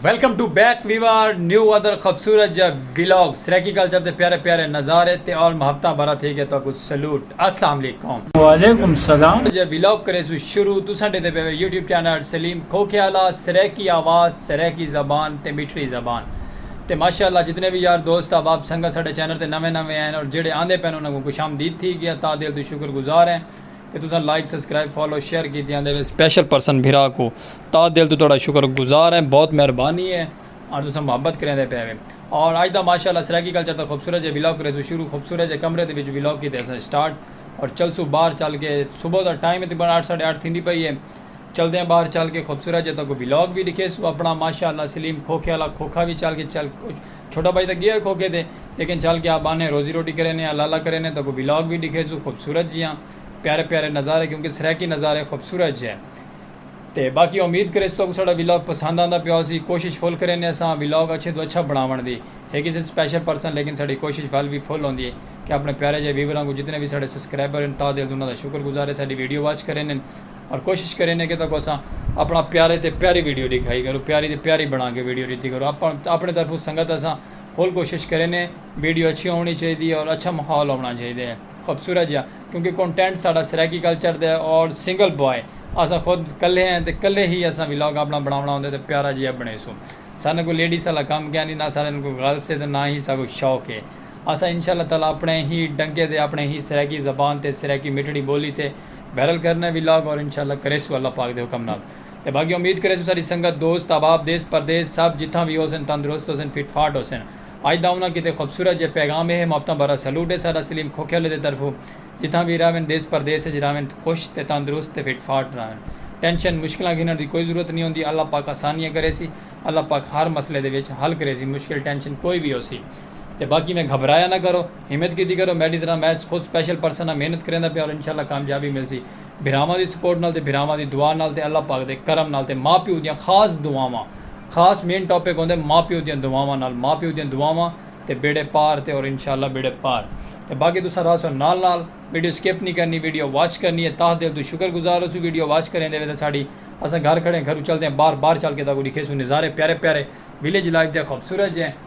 Welcome to back viewers new ادر خوبصورت جا ویلاگ سریکی کلچر دے پیارے پیارے نظارے تے اور محبتاں بارا تھی گیا تو کو سلوٹ السلام علیکم وعلیکم السلام جا ویلاگ کرے سو شروع تو سنڈے دے پیوے یوٹیوب چینل سلیم کھوکھیالہ سریکی آواز سریکی زبان تے میٹھڑی زبان تے ماشاء اللہ جتنے وی یار دوست احباب سنگت ساڈے چینل تے نویں نویں ہین اور جیڑھے آندے پین انہاں کوں خوش آمدید تھی گیا تاں دل توں شکر گزار ہیں کہ تساں لائک سبسکرائب فالو شیئر کیتی آندے وے سپیشل پرسن بھرا کوں تاں دل توں تہاڈا شکر گزار ہیں بہت مہربانی ہے آں تساں محبت کریندے پے وے اور اج دا ماشاء اللہ سرائیکی کلچر دا خوبصورت جے ولاگ کریسوں شروع خوبصورت جے کمرے دے وچ ولاگ کیتے اساں سٹارٹ اور چلسوں باہر چل کے صبح دا ٹائم ہے تقریبا اٹھ ساڈے اٹھ تھیندی پئی ہے۔ چلدیاں باہر چل کے خوبصورت جے تکو ولاگ وی ڈکھیسو اپنا ماشاءاللہ سلیم کھوکھے آلا کھوکھا وی چل کے چل چھوٹا بھائی تاں گیا کھوکھے تے لیکن چل کے آپ آنے روزی روٹی کرینے آ لالا کرینے تکو ولاگ وی ڈکھیسو خوبصورت جیاں پیارے پیارے نظارے کیونکہ سرائیکی نظارے خوبصورت جے تے باقی امید کریسو تکو ساڈا ولاگ پسند آندا پیا ہوسی کوشش فل کرینے اساں ولاگ اچھے توں اچھا بناون دی ہے کسے سپیشل پرسن لیکن ساڈی کوشش ول وی فل ہوندی ہے کہ اپنے پیارے جے ویوراں کوں جتنے وی ساڈے سبسکرائبر ہن تاہ دل توں انہاں دا شکر گزار ہے ساڈی ویڈیو واچ کرینے۔ اور کوشش کرینے کہ تکو اساں اپنا پیارے تے پیاری ویڈیو ڈکھائی کرو پیاری تے پیاری بنا کے ویڈیو ڈتی کرو اپن اپنے طرف سنگت اساں فل کوشش کرینے ویڈیو اچھی ہونی چاہی دی اور اچھا ماحول ہونا چاہی دے خوبصورت جا کیونکہ کنٹینٹ ساڈا سرائیکی کلچر دے اور سنگل بوائے اساں خود کلے ہیں تے کلے ہی اساں ولاگ اپنا بناونا ہوندے تے پیارا جیا بنیسوں ساڈے کو لیڈیز والا کم کیا نی نہ ساڈے کو غلط سے تے نہ ہی ساکو شوق ہے اساں انشاءاللہ تعالی اپنے ہی ڈنکے تے اپنے ہی سرائیکی زبان تے سرائیکی مٹھڑی بولی تے بہرحال کرناں وی لاگ اور انشاء اللہ کریسوں اللہ پاک دے حکم نال تے باقی امید کریسوں ساڈی سنگت دوست احباب دیس پردیس سب جتھاں وی ہوسن تندرست ہوسن فٹ فاٹ ہوسن اج دا انہاں کیتے خوبصورت جئے پیغام اے محبتاں بھرا سلوٹ اے ساڈا سلیم کھوکھیالے دے طرفوں جتھاں وی رہون دیس پردیس اچ رہون خوش تے تندرست تے فٹ فاٹ رہون ٹینشن مشکلاں گھنڑ دی کوئی ضرورت نی ہوندی اللہ پاک آسانیاں کریسی اللہ پاک ہر مسئلے دے وچ حل کریسی مشکل ٹینشن کوئی وی ہوسی تے باقی میں گھبرایا نہ کرو۔ ہمت کیتی کرو میڈی طرح میتھ خود سپیشل پرسن ہاں محنت کریندا پیا اور انشاءاللہ کامیابی ملسی بھراواں دی سپورٹ نال تے بھراواں دی دعا نال تے اللہ پاک دے کرم نال تے ماں پیو دیاں خاص دعاواں خاص مین ٹاپک ہوندے ماں پیو دیاں دعاواں نال ماں پیو دیاں دعاواں تے بیڑے پار تے اور انشاءاللہ بیڑے پار تے باقی تساں راہسو نال نال ویڈیو سکپ نی کرنی ویڈیو واچ کرنی اے تاہ دل توں شکر گزار ہوسوں ویڈیو واچ کریندے ویندے ساڈی اساں گھر کھڑے ہیں گھروں چلدے ہیں باہر باہر چل کے تہاکوں ڈکھیسوں نظارے پیارے پیارے ولیج لائف دے خوبصورت جے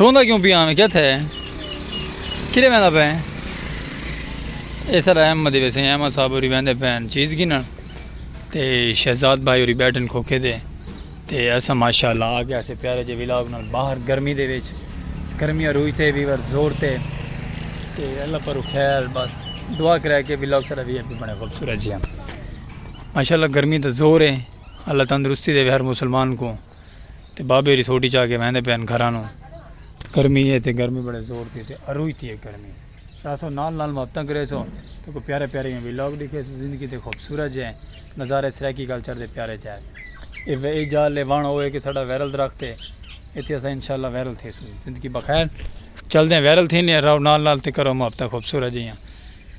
روندہ کیوں پیا میں کیا تھے کلے میں دا پہ اے سر احمد دے ویسے احمد صاحب ہوری ویندے پین چیز کی نا تے شہزاد بھائی ہوری بیٹن کھوکے دے تے ایسا ماشاءاللہ آگے ایسے پیارے جے ویلاگ نال باہر گرمی دے ویچ گرمی روئی تے ویور زور تے تے اللہ پر خیر بس دعا کرے کے ویلاگ سر ابھی ابھی بڑے خوبصورت جی ہم ماشاءاللہ گرمی دا زور ہے اللہ تندرستی دے ہر مسلمان کو تے بابے ری سوٹی چا کے ویندے پین گھراں نو گرمی ہے تے گرمی بڑے زور دی تے اروئی تھی ہے گرمی راسو نال نال محبتاں کرے سو تے کو پیارے پیارے ہیں ویلاگ دیکھے سو زندگی تے خوبصورت جے نظارے سرائیکی گل چڑھ دے پیارے جے اے وے اے جال لے وان ہوئے کہ ساڑا ویرل درخت ہے ایتھے اسا انشاءاللہ ویرل تھے سو زندگی بخیر چل دیں ویرل تھی لیں راو نال نال تے کرو محبتاں خوبصورت جے ہیں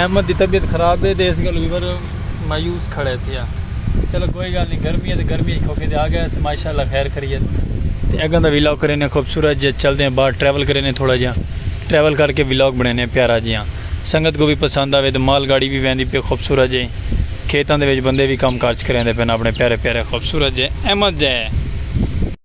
احمد دی طبیعت خراب ہے تے اس گالوں وی پر مایوس کھڑا ہے تھیا۔ چلو کوئی گال نی گرمی ہے تے گرمی اچ کھوکے تے آگئے اسے ماشاءاللہ خیر خریت۔ تے اگاں دا ولاگ کرینے خوبصورت جیا چلدے ہیں باہر ٹریول کرینے تھوڑا جیا۔ ٹریول کر کے ولاگ بنینے ہیں پیارا جیا۔ سنگت کو وی پسند آوے تے مال گاڑی وی ویندی پی خوبصورت جے۔ کھیتاں دے وچ بندے وی کم کارج کریندے پن اپنے پیارے پیارے خوبصورت جے احمد جے۔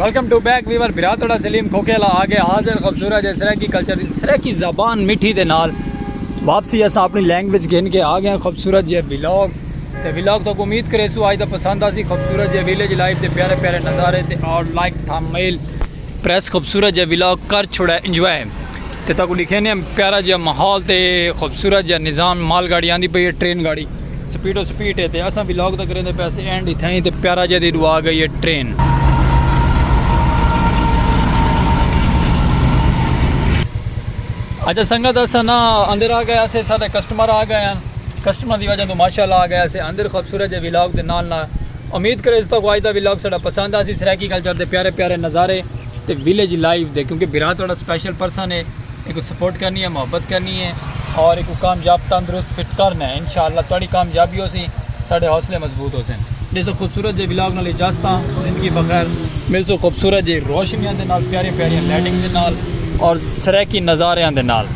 ویلکم ٹو بیک ویور برا توڑا سلیم کھوکھیلا آگے حاضر خوبصورت جے سریکی کلچر دی سریکی زبان مٹھی دے نال واپسی اسا اپنی لینگویج گھن کے آگے ہیں خوبصورت جے بلاگ تے ولاگ تہاکوں امید کریسوں آج دا پسند آسی خوبصورت جے ویلیج لائف دے پیارے پیارے نظارے تے اور لائک تھامبنیل پریس خوبصورت جے ولاگ کر چھوڑا انجوائے تے تہاکوں لکھینے ہم پیارا جے ماحول تے خوبصورت جے نظام مال گاڑی آندی پئی ہے ٹرین گاڑی سپیڈ و سپیڈ ہے تے اساں ولاگ دا کریندے پیسے اینڈ ہی تھائیں تے پیارا جے دی دعا گئی ہے ٹرین اچھا سنگت اساں نا اندر آ گئے اسے سارے کسٹمر آ گئے ہیں کسٹمر دی وجہ توں ماشاءاللہ آ گیا سے اندر خوبصورت جے ولاگ دے نال نال امید کرے اس تو کو آج دا ولاگ ساڈا پسند آسی سرائیکی کلچر دے پیارے پیارے نظارے تے ویلیج لائف دے کیونکہ بھرا تہاڈا اسپیشل پرسن ہے ایکو سپورٹ کرنی ہے محبت کرنی ہے اور ایکو کامیاب تندرست فٹ کرنا ہے انشاءاللہ تہاڈی کامیابی ہو سی ساڈے حوصلے مضبوط ہو سن جیسے خوبصورت جے ولاگ نال اجازت ہاں زندگی بخیر مل سو خوبصورت جے روشنیاں دے نال پیارے پیارے لائٹنگ دے نال اور سرائیکی نظاریاں دے نال